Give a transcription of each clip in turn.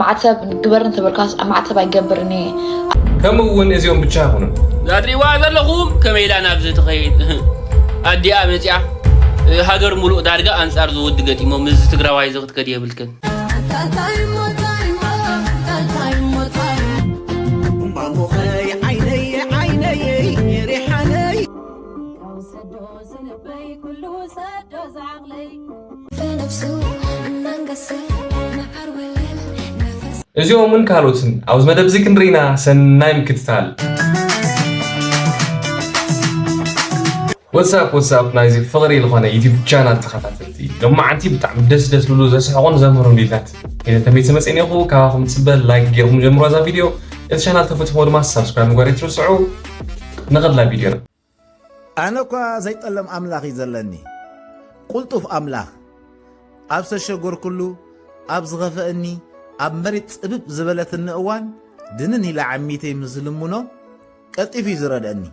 ማዕተብ ግበር እንተበልካስ ኣብ ማዕተብ ኣይገብርን እየ። ከምኡ እውን እዚኦም ብቻ ኣይኮኑን። እዛ ትሪእዋ ዘለኹም ከመይ ኢላ ናብዚ ትኸይድ ኣዲኣ መፂኣ ሃገር ሙሉእ ዳርጋ ኣንፃር ዝውዲ ገጢሞ ምስዚ ትግራዋይ እዚ ክትከድ የብልክን። እምባ ሞኸይ ዓይነየ ዓይነየይ ሪሓነይ ካብ ሰዶ ስልበይ ኩሉ ሰዶ እዚኦምን ካልኦትን ኣብዚ መደብ እዚ ክንርኢና ሰናይ ምክትታል ወትሳፕ ወትሳፕ ናይዚ ፍቕሪ ዝኾነ ዩቲብ ቻናል ተኸታተልቲ ሎማዓንቲ ብጣዕሚ ደስ ደስ ዝብሉ ዘስሕቑን ዘምህሩን ቪድዮታት ሒዘ ተመይሰ መፅእ እኒኹ ካባኹም ፅበ ላይክ ጌርኩም ጀምሮ እዛ ቪድዮ እቲ ቻናል ተፈትሕዎ ድማ ሳብስክራይብ ምግባር ኣይትርስዑ ንኸድላ ቪድዮና ኣነ እኳ ዘይጠለም ኣምላኽ እዩ ዘለኒ ቁልጡፍ ኣምላኽ ኣብ ዝተሸጎርኩሉ ኣብ ዝኸፈእኒ ኣብ መሪት ጽብብ ዝበለትኒ እዋን ድንን ኢለ ዓሚተይ ምስ ዝልምኖ ቀልጢፉ እዩ ዝረድእኒ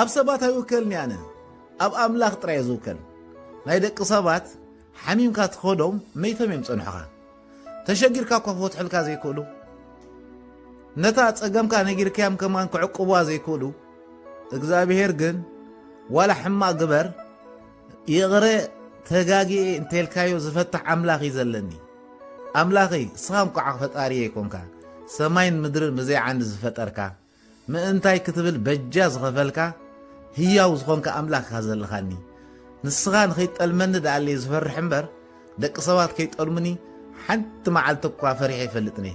ኣብ ሰባት ኣይውከልኒ ኣነ ኣብ ኣምላኽ ጥራይ ዝውከል ናይ ደቂ ሰባት ሓሚምካ ትኸዶም መይቶም እዮም ጸንሑኻ ተሸጊርካ እኳ ክፈትሑልካ ዘይክእሉ ነታ ጸገምካ ነጊርካዮም ከማን ክዕቅቡዋ ዘይክእሉ እግዚኣብሄር ግን ዋላ ሕማቅ ግበር ይቕረ ተጋጊኤ እንተልካዮ ዝፈትሕ ኣምላኽ እዩ ዘለኒ ኣምላኸይ እስኻ እንኳዕ ፈጣሪየ ይኮንካ ሰማይን ምድርን ብዘይ ዓንዲ ዝፈጠርካ ምእንታይ ክትብል በጃ ዝኸፈልካ ህያው ዝኾንካ ኣምላክ ኢኻ ዘለኻኒ ንስኻ ንኸይትጠልመኒ ደኣለየ ዝፈርሕ እምበር ደቂ ሰባት ከይጠልሙኒ ሓንቲ መዓልቲ እኳ ፈሪሐ ኣይፈልጥንየ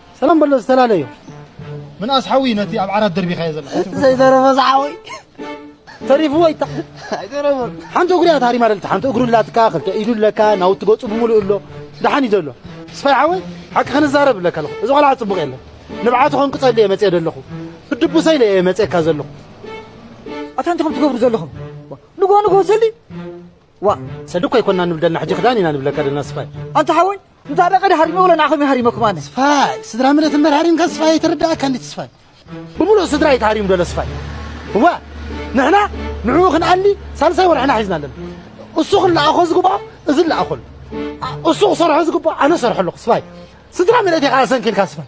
ሰላም በሎ ዝተላለዮ ምንኣስ ሓዊ ነቲ ኣብ ዓራት ደርቢኻዮ ዘለካ እቲ ዘይተረፈ ዝሓወይ ተሪፍዎ ይታ ኣይተረፈን ሓንቲ እግሩ እያ ታሪማ ደልቲ ሓንቲ እግሩ ኣላትካ ክልተ ኢዱ ኣለካ ናውቲ ገጹ ብምሉእ ኣሎ ደሓን እዩ ዘሎ ስፋይ ሓወይ ሓቂ ክንዛረብ ኣለካ ኣለኹ እዚ ቆልዓ ጽቡቕ የለን ንብዓቱ ከንቅጸሉ እየ መጽኤ ዘለኹ ብድቡሰይ ኢለ እየ መጽኤካ ዘለኹ ኣታ እንታይ ከም ትገብሩ ዘለኹም ንጎ ንጎ ሰሊ ዋ ሰሊ እኮ ኣይኮንና ንብል ደልና ሕጂ ክዳን ኢና ንብለካ ደልና ስፋይ ኣንታ ሓወይ እንታ ደቐ ድሃሪመ ወለ ንዓኹም ይሃሪመኩም ኣነ ስፋይ ስድራ ምረት እምበር ሃሪምካ ስፋይ ኣይተረዳእካ እንዲ ስፋይ ብምሉእ ስድራ ይትሃሪም ደሎ ስፋይ እዋ ንሕና ንዕኡ ክንኣሊ ሳልሳይ ወርሕና ሒዝና ኣለና እሱ ክለኣኾ ዝግብኦ እዚ ለኣኾሉ እሱ ክሰርሖ ዝግብኦ ኣነ ሰርሖ ኣለኹ ስፋይ ስድራ ምረት ኢኻ ኣሰንኪልካ ስፋይ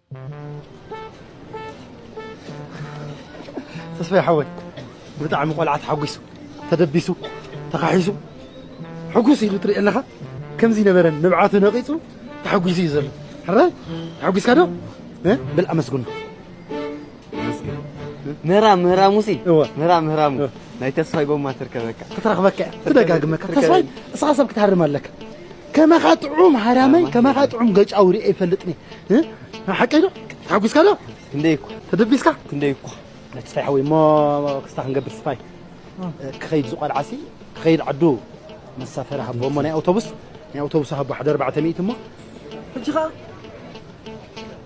ተስፋይ ሓወይ ብጣዕሚ ቆልዓ ተሓጒሱ ተደቢሱ ተኻሒሱ ሕጉስ ኢሉ ትርኢ ኣለኻ ከምዚ ነበረን ንብዓቱ ነቒፁ ተሓጒሱ እዩ ዘሎ ሕራይ ተሓጒስካ ዶ በል ኣመስግኖ ምህራም ምህራሙሲ ምህራም ምህራሙ ናይ ተስፋይ ጎማ ትርከበካ ክትረኽበካ እያ ትደጋግመካ ተስፋይ እስኻ ሰብ ክትሃርም ኣለካ ከማኻ ጥዑም ሃራመይ ከማኻ ጥዑም ገጫዊ ርኤ ይፈልጥኒ ሓቀይ ዶ ተሓጒስካ ዶ ክንደይ እኮ ተደቢስካ ክንደይ እኮ ተስፋይ ሓወይ እሞ ክስታ ክንገብር ስፋይ ክኸይድ ዝቆልዓሲ ክኸይድ ዓዱ መሳፈሪ ሃቦ እሞ ናይ ኣውቶቡስ ናይ ኣውቶቡስ ሃቦ ሓደ ኣርባዕተ ሚእቲ እሞ ሕጂ ኸዓ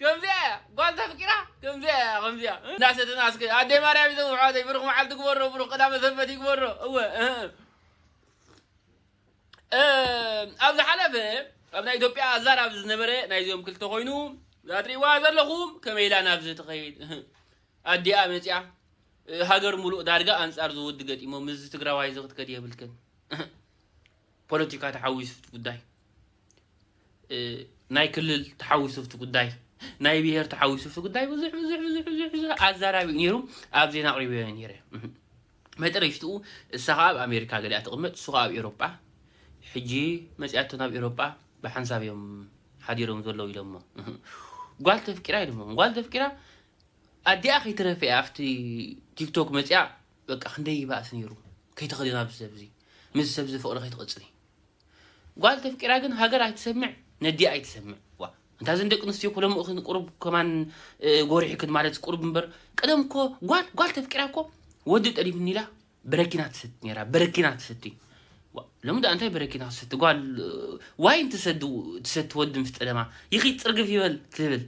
ከምዚኣ እያ ጓል ተፍቂራ ከምዚኣ እያ ከምዚኣ እንዳሰተና እስከ ኣደይ ማርያም ይዘሙ ኣሕዋተይ ብሩኽ መዓልቲ ግበሮ ብሩኽ ቀዳመ ሰንበት ይግበሮ እወ ኣብ ዝሓለፈ ኣብ ናይ ኢትዮጵያ ኣዛራቢ ዝነበረ ናይዚኦም ክልተ ኮይኑ ዛትሪእዋ ዘለኹም ከመይ ኢላ ናብዚ ትኸይድ ኣዲኣ መፅያ ሃገር ሙሉእ ዳርጋ ኣንፃር ዝውዲ ገጢሞም እዚ ትግራዋይ እዚ ክትከድ የብልክን ፖለቲካ ተሓዊሱ ኣብቲ ጉዳይ፣ ናይ ክልል ተሓዊሱ ኣብቲ ጉዳይ፣ ናይ ብሄር ተሓዊሱ ኣብቲ ጉዳይ ብዙሕ ብዙሕ ብዙሕ ብዙሕ ብዙሕ ኣዛራቢ ነይሩ ኣብ ዜና ኣቕሪበዮ ነይረ። መጠረሽትኡ እሳ ከዓ ኣብ ኣሜሪካ ገሊኣ ትቕመጥ እሱ ከዓ ኣብ ኤሮጳ ሕጂ መፅኣቶ ናብ ኤሮጳ ብሓንሳብ እዮም ሓዲሮም ዘለዉ ኢሎሞ ጓል ተፍቂራ ኢሎሞ ጓል ተፍቂራ ኣዲኣ ከይትረፈ እያ ኣብቲ ቲክቶክ መፅኣ በቃ ክንደይ ይባእስ ነይሩ ከይተክዲና ምስ ሰብዚ ምስዚ ሰብዚ ፍቅሪ ከይትቅጽሊ ጓል ተፍቂራ ግን ሃገር ኣይትሰምዕ ነዲኣ ኣይትሰምዕ ዋ እንታ ዘን ደቂ ኣንስትዮ እኮ ሎሚ እኽን ቁሩብ ከማን እ፣ ጎሪሕክን ማለት ቁሩብ እምበር ቀደም እኮ ጓል ጓል ተፍቂራ እኮ ወዲ ጠሊብኒ ኢላ በረኪና ትሰቲ ነይራ በረኪና ትሰቲ ዋ፣ ሎሚ ደኣ እንታይ በረኪና ክትሰቲ ጓል እ፣ ዋይን ትሰዲ ትሰቲ ወዲ ምስ ጠለማ ይኺድ ጽርግፍ ይበል ትብል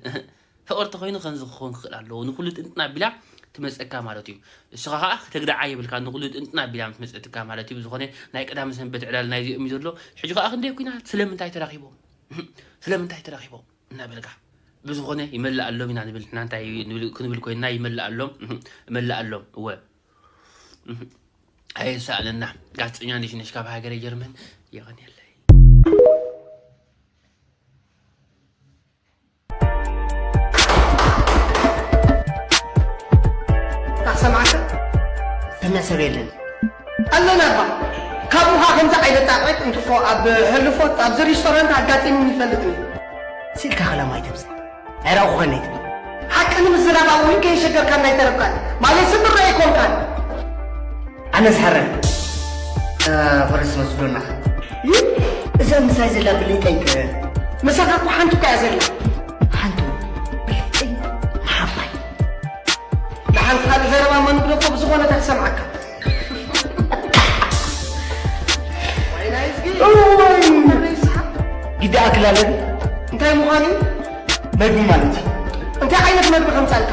ፍቅር ተኮይኑ ከምዚ ክኮን ክክእል ኣለዎ ንኩሉ ጥንጥን ኣቢላ ትመጸካ ማለት እዩ ንስካ ከኣ ክተግድዓ የብልካን ንኩሉ ጥንጥን ኣቢላ ምትመጸትካ ማለት እዩ ብዝኮነ ናይ ቀዳመ ሰንበት ዕላል ናይዚኦም እዩ ዘሎ ሕጂ ከኣ ክንደይ ኩናት ስለምንታይ ተራኪቦም ስለምንታይ ተራኪቦም እናበልካ ብዝኮነ ይመለኣሎም ኢና ንብል ንሕና እንታይ ክንብል ኮይንና ይመለኣሎም እመለኣሎም እወ ኣየሳእነና ጋዜጠኛ ነሽነሽ ካብ ሃገረ ጀርመን የቀንየለይ ሰብ የለን ኣለና ባ ካብኡኻ ከምዚ ዓይነት ጣዕበት እንትኮ ኣብ ሕልፎት ኣብዚ ሬስቶራንት ኣጋጢሙ ይፈልጥ እዩ ስኢልካ ከላማ ኣይተብዝ ዕራቑ ኮነ ይትብል ሓቂ ንምዝራብ ኣብ ውልቀ የሸገርካ እናይተረብካን ማለት ስምራ ኣይኮንካን ኣነ ዝሓረን ፈረስ መስዶና እዛ ምሳይ ዘላ ብልጠይ ከ ምሳኻ እኮ ሓንቲ እኮ እያ ዘላ ሓንቲ ብልጠይ ንሓፋይ ንሓንቲ ካልእ ዘረባ መንግዶ እኮ ብዝኾነ እታ ትሰምዓካ ግዲ ኣክላለን እንታይ ምዃኑ መግቢ ማለት እዩ እንታይ ዓይነት መግቢ ከምፃልካ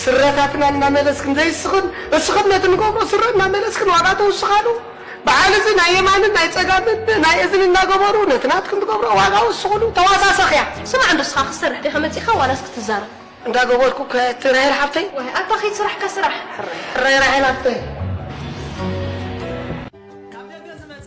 ስረታትና እናመለስክን ዘይስኽን እስኽን ነቲ ንገብሮ ስረ እናመለስክን ዋጋ ተውስኻሉ በዓል እዚ ናይ የማንን ናይ ፀጋምን ናይ እዝኒ እናገበሩ ነቲ ናትክን ትገብርኦ ዋጋ ወስኽሉ ተዋሳሰኽያ። ስማዕ እንዶ እስኻ ክትሰርሕ ዲኻ መፂእኻ ዋላስ ክትዛረብ? እንዳ ገበርኩ ከ እቲ ራሄል ሓብተይ። ዋይ ኣታ ከይት ስራሕካ ስራሕ። ሕራይ ሕራይ ራሄል ሓፍተይ። ካብ ደገ ዝመጸ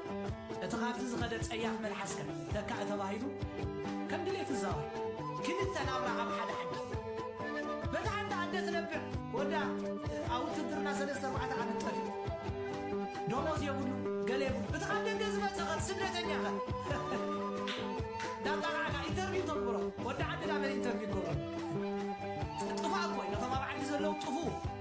እቲ ካብዚ ዝኸደ ጸያፍ መልሓስ ከ ተካእ ተባሂሉ ከም ድሌት እዛዋይ ክልተ ናብራ ኣብ ሓደ ሓድር በታ ሓንቲ ኣደ ትነብዕ ወዳ ኣብ ውትድርና ሰለስተ ኣርባዕተ ዓመት ጠፊኡ ደሞዝ የብሉ ገለ የብሉ እቲ ካብ ደገ ዝመጸ ከ ስደተኛ ከ ዳጣቃዕካ ኢንተርቪው ተግብሮ ወዲ ዓዲ ዳመን ኢንተርቪው ገብሮ ጥፋእ እኮ እዩ ነቶም ኣብ ዓዲ ዘለዉ ጥፉ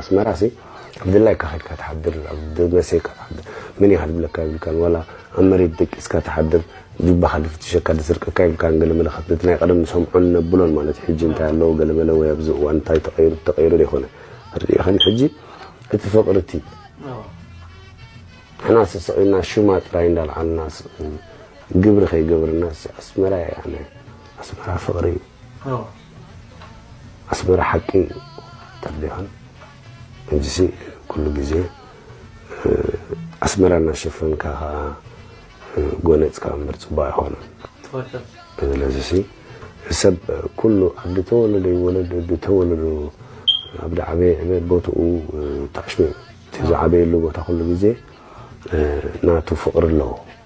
ኣስመራ ሲ ብድላይካ ከድካ ትሓድር ኣብ ደመሴካ ትሓድር መን ኢካ ድብለካ የብልካን ዋላ ኣብ መሬት ደቂስካ ትሓድር ጁባካ ድፍትሸካ ድስርቀካ የብልካን ገለ መለከት ነቲ ናይ ቀደም ንሰምዖን ነብሎን ማለት ሕጂ እንታይ ኣለዎ ገለ መለ ወይ ኣብዚ እዋን እንታይ ተቀይሩ ተቀይሩ ደይኮነ ርኢክን ሕጂ እቲ ፍቅሪ እቲ ንሕና ስስቂና ሹማ ጥራይ እንዳልዓልና ግብሪ ከይገበርና ኣስመራ ኣነ ኣስመራ ፍቅሪ እዩ ኣስመራ ሓቂ ተብሊካን ሕጂሲ ኩሉ ግዜ ኣስመራ እናሸፈንካ ከኣ ጎነጽካ እምበር ጽቡቅ ኣይኮነን። ስለዚሲ ሰብ ኩሉ ኣብ ዝተወለደ ይወለድ ብተወለዶ ኣብ ዝዓበየ ዕበ ቦትኡ ተኣሽሚዑ እቲ ዝዓበየሉ ቦታ ኩሉ ግዜ ናቱ ፍቅሪ ኣለዎ።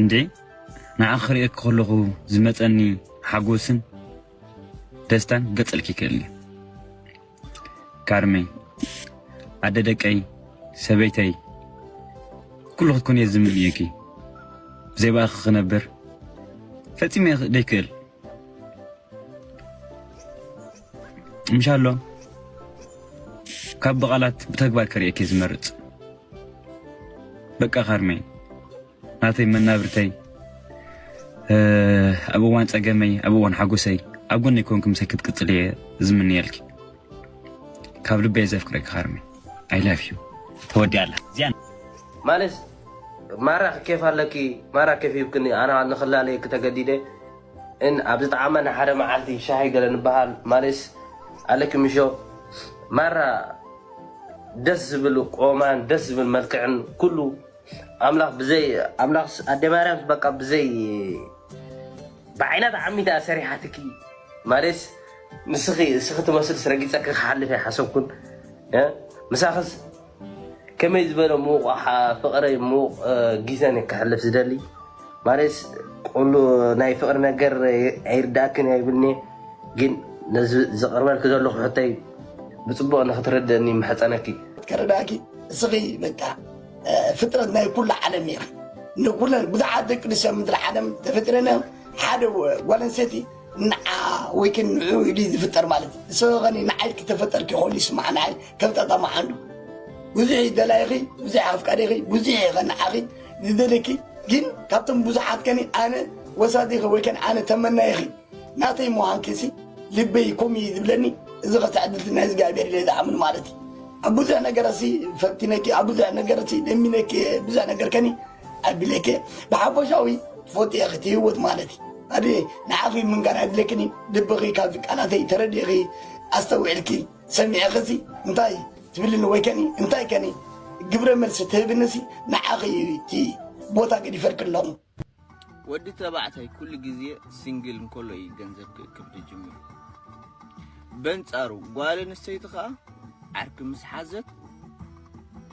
እንዴ ንዓኺ ክርእየኪ ከለኹ ዝመጸኒ ሓጎስን ደስታን ገጸልኪ ይክእል እዩ ካርመይ ኣደ ደቀይ ሰበይተይ ኩሉ ክትኮን እየ ዝምንየኪ ብዘይ ብኣኺ ክነብር ፈጺመ ደይክእል ምሻሎ ካብ ብቓላት ብተግባር ከርእየኪ ዝመርጽ በቃ ካርመይ ናተይ መናብርተይ ኣብ እዋን ጸገመይ ኣብ እዋን ሓጎሰይ ኣብ ጎኒ ኮንክ ምሰ ክትቅጽል እየ ዝምንየልኪ ካብ ልበየ ዘፍቅረኪ ካርመይ ኣይ ላቭ ዩ ተወዲያ ኣላ እዚኣ ማለት ማራ ኬፍ ኣለኪ ማራ ኬፍ ይብክኒ ኣና ንክላለየኪ ተገዲደ ን ኣብ ዝጠዓማ ን ሓደ መዓልቲ ሻሂ ገለ ንበሃል ማሌስ ኣለኪ ምሾ ማራ ደስ ዝብል ቆማን ደስ ዝብል መልክዕን ኩሉ ኣምላኽ ብዘይ ኣምላኽ ኣደ ማርያም በቃ ብዘይ ብዓይና ተዓሚታ ሰሪሓትኪ ማሌስ ንስኺ እስኺ ትመስልስ ረጊጸኪ ክሓልፍ ኣይሓሰብኩን ምሳኺስ ከመይ ዝበለ ምዉቕ ኣሓ ፍቕረይ ምዉቕ ጊዘ ን ከሕልፍ ዝደሊ ማለትስ ቁሉ ናይ ፍቕሪ ነገር ኣይርዳኣክን እያ ይብልኒ ግን ነዚ ዘቕርበልኪ ዘለኹ ሕቶይ ብጽቡቕ ንክትርድእኒ ይምሕጸነኪ። ክርዳኪ እስኺ በቃ ፍጥረት ናይ ኩሉ ዓለም ኢኺ ንኩለን ብዙሓት ደቂ ኣንስትዮ ኣብ ምድሪ ዓለም ተፈጢረን እዮም ሓደ ጓል ኣንስተይቲ ንዓ ወይ ከን ንዑ ኢሉ ዝፍጠር ማለት እዩ ንሰበ ከኒ ንዓይ ክተፈጠርኪ ኮሉ ይስማዕ ንዓይ ከብጣጣ መዓንዱ ብዙሕ ይደላይኺ ብዙሕ ኣፍቃሪኺ ብዙሕ ይኸንዓኺ ዝደለኪ ግን ካብቶም ብዙሓት ከኒ ኣነ ወሳዲኺ ወይ ከን ኣነ ተመናይኺ ናተይ ምዃንኪሲ ልበይ ኮም እዩ ዝብለኒ እዚ ከተዕድልቲ ናይ እግዚኣብሔር ኢለ ዝኣምን ማለት እዩ ኣብ ብዙሕ ነገረሲ ፈቲነኪ ኣብ ብዙሕ ነገረሲ ለሚነኪ ብዙሕ ነገር ከኒ ኣድለከ ብሓፈሻዊ ትፈትየ ክትህይወት ማለት ኣደ ንዓኺ ምንጋር ኣድለክኒ ልብኺ ካብዚ ቃላተይ ተረዲእኺ ኣስተውዒልኪ ሰሚዕኽሲ እንታይ ትብልኒ ወይ ከኒ እንታይ ከኒ ግብረ መልሲ ትህብንሲ ንዓኺ እዩ እቲ ቦታ ገዲፈልክ ኣለኹ ወዲ ተባዕታይ ኩሉ ግዜ ሲንግል እንከሎ እዩ ገንዘብ ክእክብ ዝጅምር በንጻሩ ጓል ኣንስተይቲ ከዓ ዓርኪ ምስ ሓዘት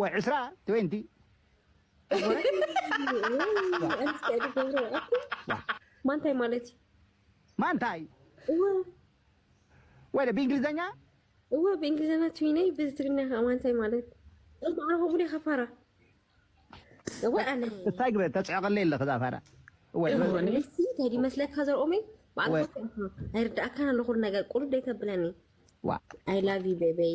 ወይ ዕስራ ትዌንቲ ማንታይ ማለት እዩ ማንታይ እወ ወይ ብእንግሊዘኛ እወ ብእንግሊዘኛ ትዊነይ ብትግርኛ ከዓ ማንታይ ማለት እምበኣ ከምኡ ዲኻ ፋራ እወ ኣነ እንታይ ግበ ተፅዕቐለይ ኣለኺ እዛ ፋራ እወ እንታይ ይመስለካ ዘርኦመይ ባዕልኻ ኣይርዳእካን ኣሎ ኩሉ ነገር ቁልደይ ተብለኒ ዋ ኣይ ላቭ ዩ ቤበይ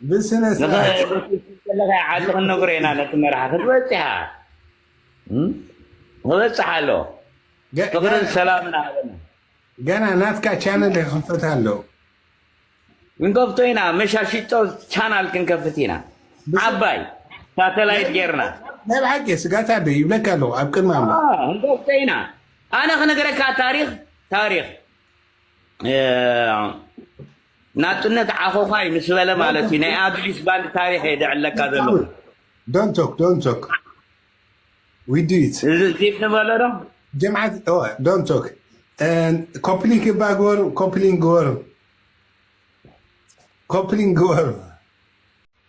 ንኸ ብስነስርዓት ከለካ ዓዲ ክንነግሮ ኢና ነቲ መርሓ ክትበፅሓ ክበፅሕ ኣሎ ገ- ፍቅርን ገና ሰላምን ሃበና ገና ናትካ ቻነል ይኽፈት ኣሎ ክንከፍቶ ኢና መሻሽጦ ቻናል ክንከፍት ኢና ብስ- ዓባይ ሳተላይት ጌርና ናይ ብሓቂ ስጋታ ዶ ይብለካ ኣለኹ ኣብ ቅድሚ ኣምላኽ آه، እንከፍቶ ኢና ኣነ ክነገረካ ታሪክ ታሪክ ናጽነት ዓኾዃይ ምስ በለ ማለት እዩ ናይ ኣዱሊስ ባንድ ታሪኽ እየ ዘዕለካ ዘለኹ ዶንቶክ ዶንቶክ ዊዲት ዚብ ንበሎ ዶ ጀምዓት ዶንቶክ ኮፕሊንግ እባ ግበሩ ኮፕሊንግ ግበሩ ኮፕሊንግ ግበሩ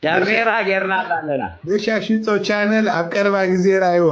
ዳሜራ ጌርናላ ኣለና በሻሽጦ ቻነል ኣብ ቀረባ ግዜ ራይዋ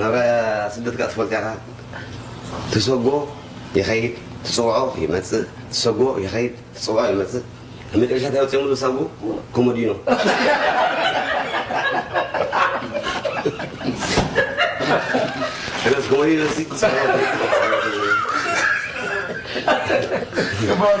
ናብ ስደት ከኣ ትፈልጥ ኢኻ ትሰጎ ይኸይድ ትጽውዖ ይመጽእ ትሰጎ ይኸይድ ትጽውዖ ይመጽእ ኣብ መጨረሻ እንታይ ወጺኦምሉ ሳጉ ኮሞዲኖ እነስ ኮሞዲኖ ሲ Come on.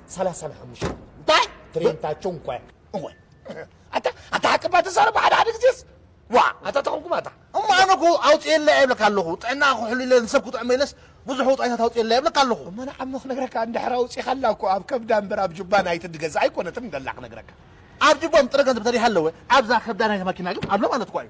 ሰላሳ ንሓሙሽተ እንታይ ትሬንታቸው እንኳ እወ ኣታ ኣታ ሓቅባ ተዛረብ ሓደ ሓደ ግዜስ ዋ ኣታ ተኾንኩም ኣታ እሞ ኣነ እኮ ኣውፅኤላ እየ ይብለካ ኣለኹ ጥዕና ክሕሉ ኢለ ንሰብ ክጥዕመ ኢለስ ብዙሕ ውፃኢታት ኣውፅኤላ ይብለካ ኣለኹ እሞ ንዓሞ ክነግረካ እንድሕር ኣውፂኻላ እኮ ኣብ ከብዳ እምበር ኣብ ጁባ ናይቲ ድገዛ ኣይኮነትን ደላ ክነግረካ ኣብ ጅቦም ጥረ ገንዘብ ተሪሃ ኣለወ ኣብዛ ከብዳ ናይቲ መኪና ግን ኣሎ ማለት እኳ እዩ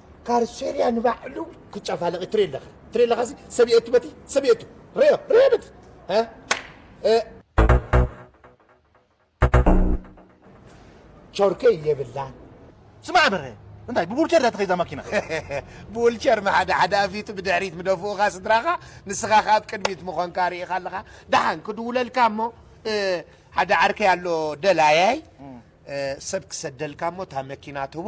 ካርሴርያ ንባዕሉ ክጨፋለቂ ትርኢ ኣለኻ ትርኢ ኣለኻ እዚ ሰብየቱ በቲ ሰብየቱ ርዮ ርዮ በቲ ቾርከ የብላን ስማዕ በረ እንታይ ብቡልቸር እያ ተኸይዛ ማኪና ብውልቸር መሓደ ሓደ ኣፊቱ ብድሕሪት ምደፍኡኻ ስድራኻ ንስኻ ከ ኣብ ቅድሚት ምኾንካ ርኢኻ ኣለኻ ደሓን ክድውለልካ እሞ ሓደ ዓርከይ ኣሎ ደላያይ ሰብ ክሰደልካ እሞ እታ መኪና ትህቦ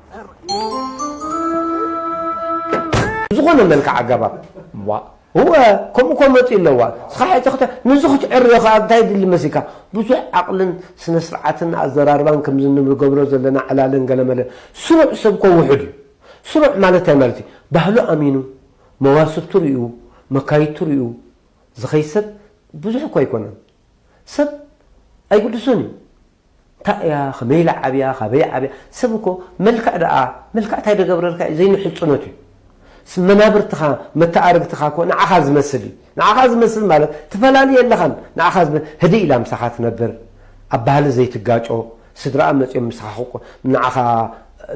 ብዝኾነ መልክዕ ኣገባብ ዋእ እወ ከምኡ ከመፅኡ ኣለዋ እስኻ ሕጂ ክተ ንዚ ክትዕርዮ ከኣ እንታይ የድሊ መሲልካ ብዙሕ ዓቕልን ስነ ስርዓትን ኣዘራርባን ከምዚ ንገብሮ ዘለና ዕላልን ገለመለን ስሩዕ ሰብ እኮ ውሑድ እዩ ስሩዕ ማለት እንታይ ማለት እዩ ባህሉ ኣሚኑ መዋስብቱ ሪኡ መካይድቱ ሪኡ ዝኸይድ ሰብ ብዙሕ እኮ ኣይኮነን ሰብ ኣይግድሶን እዩ ታይ እያ ከመይ ኢላ ዓብያ ካበይ ዓብያ ሰብ እኮ መልክዕ ደኣ መልክዕ ታይ ደገብረልካ እዩ ዘይንሕፁኖት እዩ ስ መናብርትካ መተኣርግትካ እኮ ንዓካ ዝመስል እዩ ንዓካ ዝመስል ማለት ትፈላሊ የለካን ንዓካ ዝመ ህድእ ኢላ ምሳካ ትነብር ኣብ ባህሊ ዘይትጋጮ ስድራኣ መፂኦም ምሳካ ክቆ ንዓካ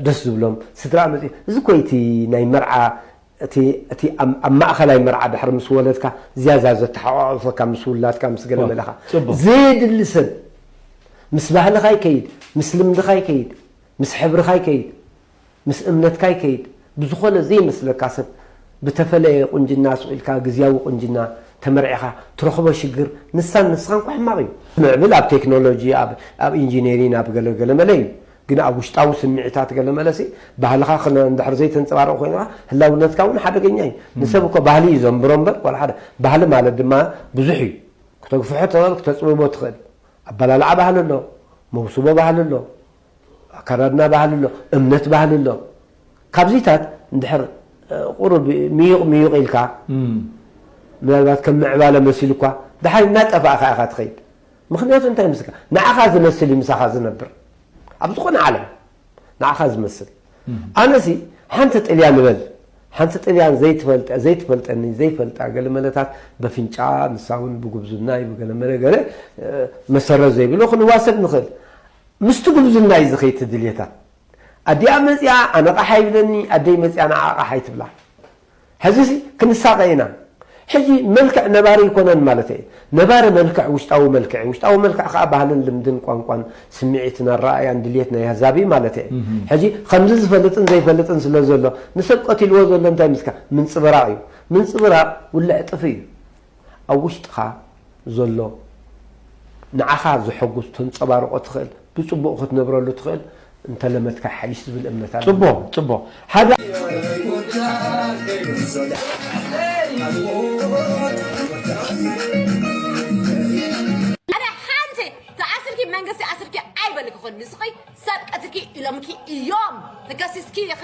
ደስ ዝብሎም ስድራኣ መፂ እዚ እኮ እዩ እቲ ናይ መርዓ እቲ እቲ ኣብ ኣብ ማእኸላይ መርዓ ድሕሪ ምስ ወለድካ ዝያዳ ዘተሓቋቑፈካ ምስ ውላድካ ምስ ገለ መለ እኻ። ጽቡቕ። ዘየድሊ ሰብ ምስ ባህልኻ ይከይድ፣ ምስ ልምድኻ ይከይድ፣ ምስ ሕብርኻ ይከይድ፣ ምስ እምነትካ ይከይድ፣ ብዝኾነ ዘይመስለካ ሰብ ብተፈለየ ቁንጅና ሱቕ ኢልካ ግዝያዊ ቁንጅና ተመርዒኻ ትረኽቦ ሽግር ንሳን ንስኻን እኳ ሕማቕ እዩ። ምዕብል ኣብ ቴክኖሎጂ ኣብ ኣብ ኢንጂነሪን ኣብ ገለ ገለ መለ እዩ። ግን ኣብ ውሽጣዊ ስምዒታት ገለ መለሲ ባህልኻ ክነ እንድሕር ዘይተንጸባርቕ ኮይንካ ህላውነትካ እውን ሓደገኛ እዩ። ንሰብ እኮ ባህሊ እዩ ዘንብሮ እምበር ዋላ ሓደ ባህሊ ማለት ድማ ብዙሕ እዩ። ክተግፍሖ ትኽእል ክተጽብቦ ትኽእል። ኣበላልዓ ባህሊ ኣሎ፣ መውስቦ ባህሊ ኣሎ፣ ኣከዳድና ባህሊ ኣሎ፣ እምነት ባህሊ ኣሎ። ካብዚታት እንድሕር ቁሩብ ምዩቕ ምዩቕ ኢልካ ምናልባት ከም ምዕባለ መሲሉኳ ደሓር እናጠፋእካ ኢኻ ትኸይድ። ምኽንያቱ እንታይ ይመስለካ ንዓኻ ዝመስል እዩ ምሳኻ ዝነብር ኣብ ዝኾነ ዓለም ንዓኻ ዝመስል ኣነሲ ሓንቲ ጥልያ ንበል ሓንቲ ጥልያን ዘይትፈልጠ ዘይትፈልጠኒ ዘይፈልጣ ገለመለታት በፍንጫ ንሳ እውን ብጉብዝናይ ብገለመለ ገለ መሰረት ዘይብሎ ክንዋሰድ ንኽእል ምስቲ ጉብዝናይ እዚ ከይትድልየታ ኣዲኣ መፅኣ ኣነቓሓ ይብለኒ ኣደይ መፅኣ ንዓቓሓ ይትብላ ሕዚሲ ክንሳቐ ኢና። ሕዚ መልክዕ ነባሪ ኣይኮነን ማለተይ እየ። ነባሪ መልክዕ ውሽጣዊ መልክዕ እዩ። ውሽጣዊ መልክዕ ከኣ ባህልን ልምድን ቋንቋን ስምዒትን ኣረኣእያን ድልየት ናይ ኣህዛብ እዩ ማለተይ እየ። ሕዚ ከምዚ ዝፈልጥን ዘይፈልጥን ስለ ዘሎ ንሰብ ቀቲልዎ ዘሎ እንታይ ምስካ ምንጽብራቕ እዩ። ምንጽብራቕ ውልዕ ጥፍ እዩ። ኣብ ውሽጥኻ ዘሎ ንዓኻ ዘሐጉስ ተንጸባርቆ ትኽእል ብጽቡቅ ክትነብረሉ ትኽእል እንተለመድካ ይሓይሽ ዝብል እምነት ኣለኒ። ጽቡቅ ጽቡቅ ሓደ። ኣረ ሓንቲ ተኣስርኪ መንግስቲ ኣስርኪ ኣይበልክኽን ንስኺ ሰብ ቀትልኪ ኢሎምኪ ኢዮም ተከሲስኪ ኢኺ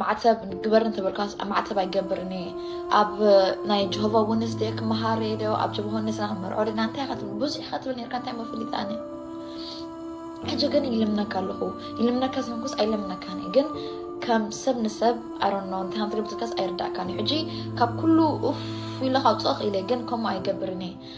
ማዕተብ ግበሪ እንተ በልካስ ማዕተብ ኣይገብርን እየ ኣብ ናይ ጆሆቫ ውንስ ድየ ክመሃር እየ ዶ ኣብ ጆሆቫ ውንስ ናብ መርዖ ድና እንታይ ኢኻ ትብል ብዙሕ ኢኻ ትብል ነርካ እንታይ መፍሊጥ ኣነ ሕጂ ግን ይልምነካ ኣለኹ ይልምነካ ስለንኩስ ኣይለምነካን እየ ግን ከም ሰብ ንሰብ ኣሮኖ እንታይ ከም ትገብር ትልካስ ኣይርዳእካን እዩ ሕጂ ካብ ኩሉ ኡፍ ኢለ ካውፅኦ ክኢለ ግን ከምኡ ኣይገብርን እየ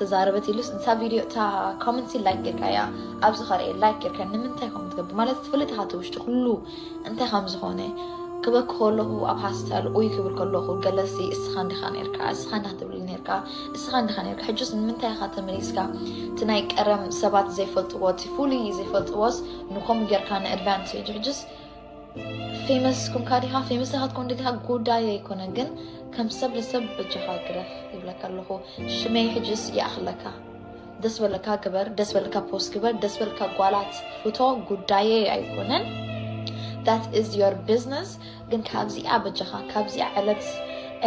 ተዛረበት ኢሉስ እታ ቪድዮ እታ ኮመንት ሲ ላይክ ጌርካያ ኣብዚ ከርኤ ላይክ ጌርካ ንምንታይ ከምኡ ትገብር ማለት ትፈልጥ ኢኻ እቲ ውሽጢ ኩሉ እንታይ ከም ዝኾነ ክበክ ከለኹ ኣብ ሃስታል ኡይ ክብል ከለኹ ገለሲ እስኻ እንዲኻ ነርካ እስኻ እንዳ ትብል ነርካ እስኻ እንዲኻ ነርካ ሕጁስ ንምንታይ ኢኻ ተመሊስካ እቲ ናይ ቀረም ሰባት ዘይፈልጥዎ እቲ ፍሉይ ዘይፈልጥዎስ ንከምኡ ጌርካ ንኣድቫንቴጅ ሕጁስ ፌመስ ኮንካ ዲኻ ፌመስ ኣይኮንካን ዲኻ ጉዳይ ኣይኮነን፣ ግን ከም ሰብ ንሰብ በጃኻ ግረፍ ይብለካ ኣለኹ። ሽመይ ሕጅስ ይኣኽለካ። ደስ በለካ ግበር፣ ደስ በለካ ፖስት ግበር፣ ደስ በለካ ጓላት ፍቶ፣ ጉዳየይ ኣይኮነን። ዳት ኢዝ ዮር ቢዝነስ። ግን ካብዚኣ በጃኻ ካብዚኣ ዕለት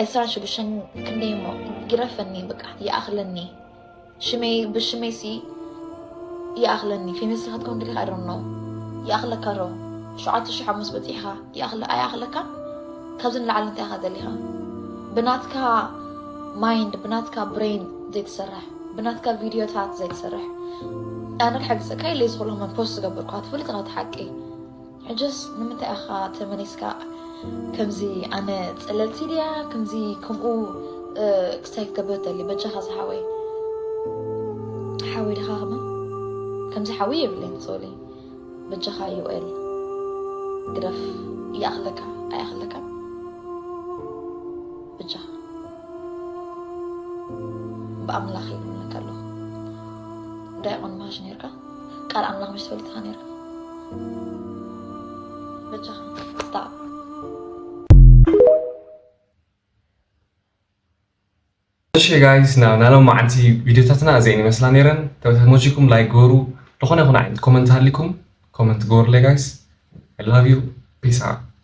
ዕስራን ሽዱሽተን ክንደይ እሞ ግረፈኒ፣ በቃ ይኣኽለኒ። ሽመይ ብሽመይ ሲ ይኣኽለኒ ፌመስ ክትከውን ድልኻ ኣይዶን ነው ይኣኽለካ ዶ ሸውዓተ ሽሕ ሓሙስ በፂሕኻ ይኣኽለ ኣይኣኽለካ ካብዚ ንላዕሊ እንታይ ኢኻ ዘሊኻ ብናትካ ማይንድ ብናትካ ብሬን ዘይትሰርሕ ብናትካ ቪድዮታት ዘይትሰርሕ ኣነ ክሕግዘካ ኢለ ዝኽእልኹም ፖስት ዝገበርኩ ትፈልጥ ኸቲ ሓቂ ሕጅስ ንምንታይ ኣኻ ተመሊስካ ከምዚ ኣነ ጸለልቲ ድያ ከምዚ ከምኡ ክሳይ ክገብር ደሊ በጃኻ ዝሓወይ ሓወይ ድኻ ከማ ከምዚ ሓዊ የብለይን ሶሊ በጃኻ ዩኤል ግደፍ ይኣኽለካ ኣይኣኽለካ በጃኻ ብኣምላኽ ይብለካ ኣለኹ ዳይቆን ማሽ ነርካ ቃል ኣምላኽ ምሽ ትፈልጥ ኢኻ ነይራ በጃኻ ስታዕ እሺ ጋይስ ናብ ናይ ሎም መዓልቲ ቪድዮታትና እዚአን ይመስላ ነይረን ተመችኩም ላይክ ግበሩ ዝኾነ ይኹን ዓይነት ኮመንት ሃሊኩም ኮመንት ግበሩለይ ጋይስ ኣይ ላቭ ዩ ፒስ ኣውት